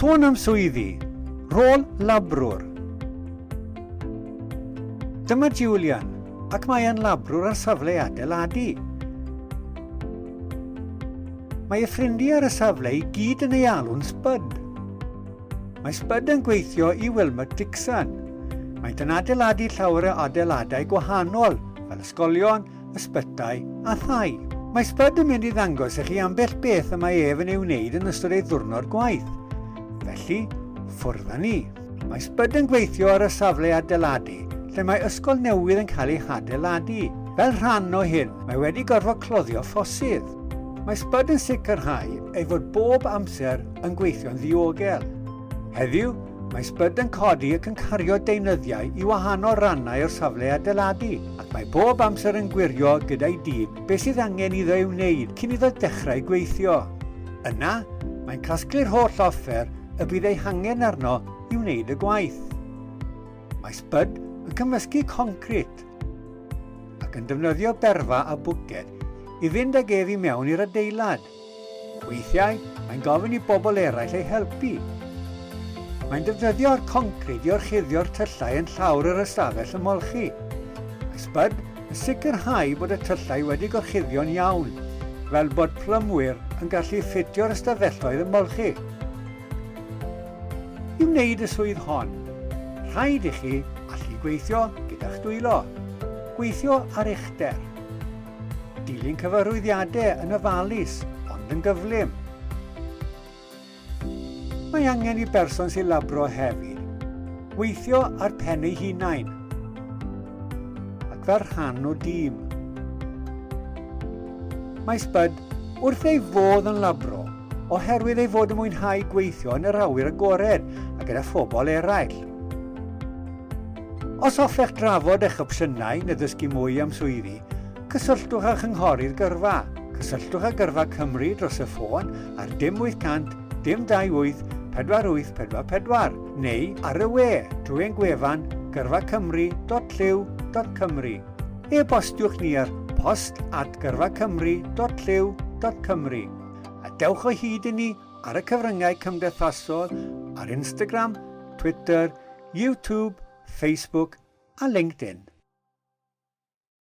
Sôn am swyddi, rôl labrwr. Dyma Julian, ac mae e'n labrwr ar safle adeiladu. Mae y ffrindiau ar y safle i gyd yn ei alw'n Spud. Mae Spud yn gweithio i Wilmot Dixon. Maent yn adeiladu llawer o adeiladau gwahanol, fel ysgolion, ysbytai a thai. Mae Spud yn mynd i ddangos i chi ambell beth y mae ef yn ei wneud yn ystod ei ddwrnod gwaith. Felly, ffwrdd â ni. Mae Spud yn gweithio ar y safle adeiladu, lle mae ysgol newydd yn cael ei hadeiladu. Fel rhan o hyn, mae wedi gorfod cloddio ffosydd. Mae Spud yn sicrhau ei fod bob amser yn gweithio'n ddiogel. Heddiw, mae sbyd yn codi ac yn cario deunyddiau i wahanol rannau o'r safle adeiladu, ac mae bob amser yn gwirio gyda'i dîm beth sydd angen iddo ei wneud cyn iddo dechrau gweithio. Yna, mae'n casglu'r holl offer y bydd ei hangen arno i wneud y gwaith. Mae sbyd yn cymysgu concrit ac yn defnyddio berfa a bwced i fynd ag ef i mewn i'r adeilad. Weithiau, mae'n gofyn i bobl eraill ei helpu. Mae'n defnyddio'r concrid i orchuddio'r tyllau yn llawr yr ystafell ymolchi. Mae Spud yn sicrhau bod y tyllau wedi gorchuddio'n iawn, fel bod plymwyr yn gallu ffitio'r ystafelloedd ymolchi. I wneud y swydd hon, rhaid i chi allu gweithio gyda'ch dwylo, gweithio ar uchder. Dilyn cyfarwyddiadau yn ofalus ond yn gyflym. Mae angen i berson sy'n labro hefyd weithio ar pen ei hunain ac fel rhan o dîm. Mae Spud wrth ei fodd yn labro oherwydd ei fod yn mwynhau gweithio yn yr awyr agored a gyda phobl eraill. Os hoffech drafod eich opsiynau neu ddysgu mwy am swyddi, cysylltwch â Chynghorydd Gyrfa. Cysylltwch â Gyrfa Cymru dros y ffôn ar dim 800 dim 28 4844 neu ar y we drwy ein gwefan gyrfacymru.llyw.cymru. E-bostiwch ni ar post at gyrfacymru.llyw.cymru a dewch o hyd i ni ar y cyfryngau cymdeithasol ar Instagram, Twitter, YouTube, Facebook a LinkedIn.